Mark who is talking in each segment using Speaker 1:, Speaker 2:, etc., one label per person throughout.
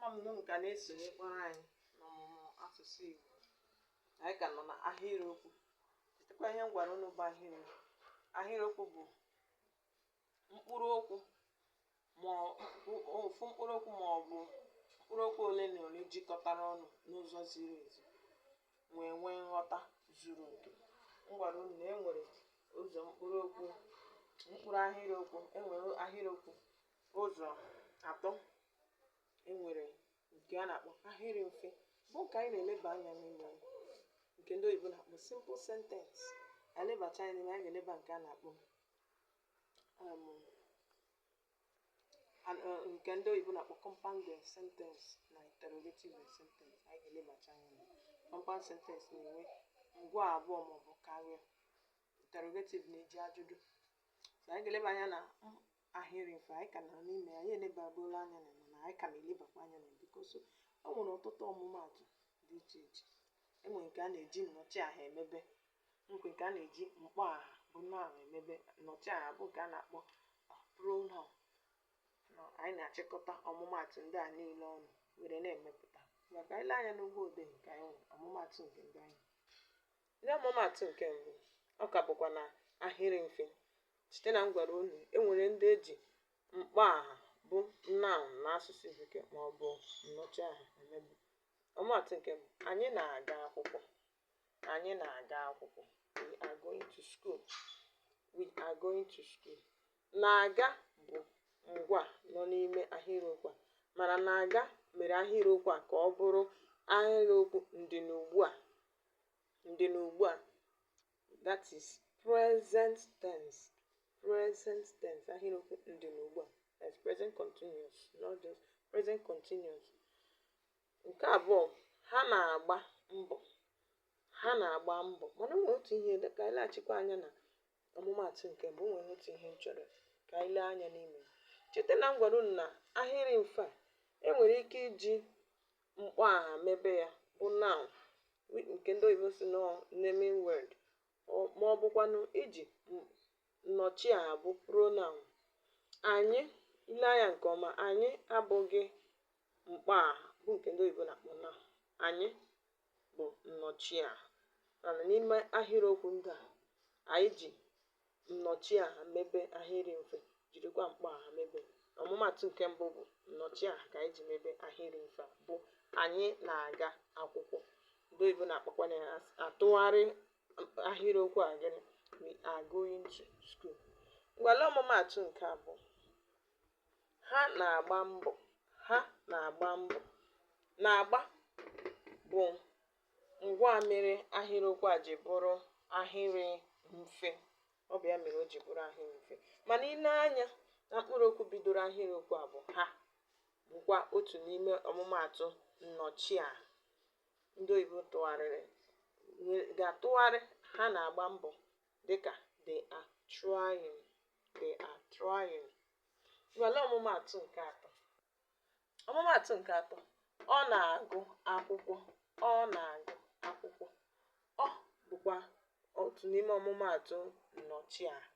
Speaker 1: ama m na unu ka na-esonyekwara anyị n'ọmụmụ asụsụ Igbo anyị ka nọ na ahịrịokwu chetakwa ihe m gwara unu bụ ahịrịokwu ahịrịokwu bụ mkpụrụ okwu ma ọ- mkpụ- ofu mkpụrụ okwu ma ọ bụ mkpụrụ okwu ole na ole jikọtara ọnụ n'ụzọ ziri ezi wee nwee nghọta zuru oke m gwara unu na e nwere ụzọ mkpụrụ okwu mkpụrụ ahịrịokwu e nwere ahịrịokwu ụzọ atọ e nwere nke a na-akpọ ahịrị mfe bụ nke anyị na-eleba anya n'ime ya nke ndị oyibo na-akpọ simple sentence anyị lebacha anya n'ime anyị ga-eleba nke a na-akpọ um, an- uh, nke ndị oyibo na-akpọ compounded sentence na interrogative sentence anyị ga-elebacha anya na ya. compound sentence na-enwe ngwaa abụọ maọbụ karịa interrogative na-eji ajụjụ so anyị ga-eleba anya na m- ahịrị mfe anyị ka nọ n'ime ya anyị elebabuola anya na mana anyị ka na-elebakwa anya na because o nwere ọtụtụ ọmụmaatụ dị iche iche enwere nke a na-eji nnọchi aha emebe nke nke a na-eji mkpọ aha bụ noun emebe nnọchi aha bụ nke a na-akpọ pronoun na anyị na-achịkọta ọmụmaatụ ndị a niile ọnụ were na-emepụta maka i lee anya n'ụgbọ odee nke anyị nwere ọmụmaatụ nke ndị anyị Nye ọmụmaatụ nke mbụ, ọ ka bụkwa na ahịrị mfe. Cheta na m gwara unu e nwere ndị e ji mkpọaha bụ noun n'asụsụ Bekee ma ọ bụ nnọchiaha emebe. Ọmụmaatụ nke mbụ, anyị na-aga akwụkwọ. Anyị na-aga akwụkwọ. We are going to school. We are going to school. Na-aga bụ ngwaa nọ n'ime ahịrịokwu a mana na-aga mere ahịrịokwu a ka ọ bụrụ ahịrịokwu ndịnugbua ndịnugbua that is present tense present tense ahịrịokwu ndịnugbua that's present continuous not just present continuous nke abụọ ha na-agba mbọ ha na-agba mbọ mana o nwere otu ihe ka anyị leghachikwa anya na ọmụmaatụ nke mbụ o nwere otu ihe m chọrọ ka anyị lee anya n'ime cheta na m gwara unu na ahịrị mfe a enwere ike iji mkpọaha mebe ya bụ noun wi- nke ndị oyibo sị na ọ naming word ọ- ma ọ bụkwanụ iji m- nnọchiaha bụ pronoun anyị i lee anya nke ọma anyị abụghị mkpọaha bụ nke ndị oyibo na-akpọ noun anyị bụ nnọchiaha mana n'ime ahịrịokwu ndị a anyị ji nnọchiaha mebe ahịrị mfe, jirikwa mkpọaha mebe. Ọmụmaatụ nke mbụ bụ nnọchiaha ka anyị ji mebe ahịrị mfe a bụ anyị na-aga akwụkwọ. Ndị oyibo na-akpọkwanụ ya asị atụgharị ahịrịokwu a gịnị we are going to school. Ngwa lee ọmụmaatụ nke abụọ ha na-agba mbọ ha na-agba mbọ na-agba bụ Ngwa mere ahịrịokwu a ji bụrụ ahịrị mfe. Ọ bụ ya mere o ji bụrụ ahịrị mfe. Mana i nee anya na mkpụrụokwu bidoro ahịrịokwu a bụ ha bụkwa otu n'ime ọmụmaatụ nnọchiaha ndị oyibo tụgharịrị ga-atụgharị ha na-agba mbọ dịka they are trying they are trying. Ngwa lee ọmụmaatụ nke atọ. ọmụmaatụ nke atọ ọ na-agụ akwụkwọ ọ na-agụ akwụkwọ ọ bụkwa otu n'ime ọmụmaatụ nnọchiaha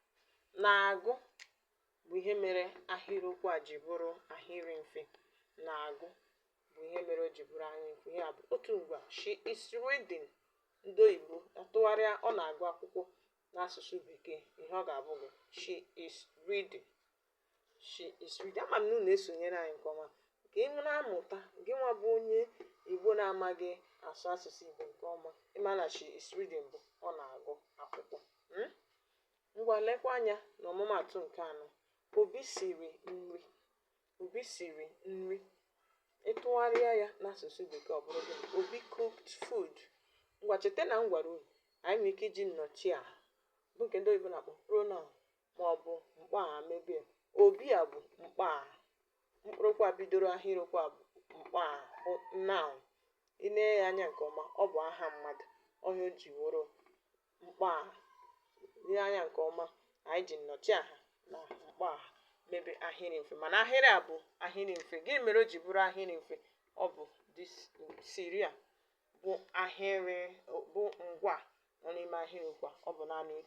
Speaker 1: na-agụ bụ ihe mere ahịrịokwu a ji bụrụ ahịrị mfe na-agụ bụ ihe mere o ji bụrụ ahịrị mfe ya bụ otu ngwa she is reading ndị oyibo atụgharịa ọ na-agụ akwụkwọ n'asụsụ bekee ihe ọ ga-abụ bụ she is reading she is reading ama m na unu esonyere anyị nke ọma ka ị na-amụta gị nwa bụ onye igbo na-amaghị asụ asụsụ igbo nke ọma ị ma na she is reading bụ ọ na-agụ akwụkwọ Hmm? ngwa lekwa anya na ọmụmaatụ nke anọ obi siri nri obi siri nri ị tụgharịa ya n'asụsụ bekee ọ bụrụ gịnị obi cooked food ngwa cheta na m gwara unu anyị nwere ike iji nnọchiaha bụ nke ndị oyibo na-akpọ pronoun maọbụ mkpọaha mebe obi a bụ mkpọaha mkpụrụokwu a bidoro ahịrịokwu a bụ mkpọaha bụ noun i nee ya anya nke ọma ọ bụ aha mmadụ ọ ya o ji wụrụ mkpọaha lee anya nke ọma anyị ji nnọchiaha na mkpọaha mebe ahịrị mfe mana ahịrị a bụ ahịrị mfe gịnị mere o ji bụrụ ahịrị mfe ọ bụ siri a bụ ahịrị bụ ngwa nọ n'ime ahịrịokwu a ọ bụ naanị otu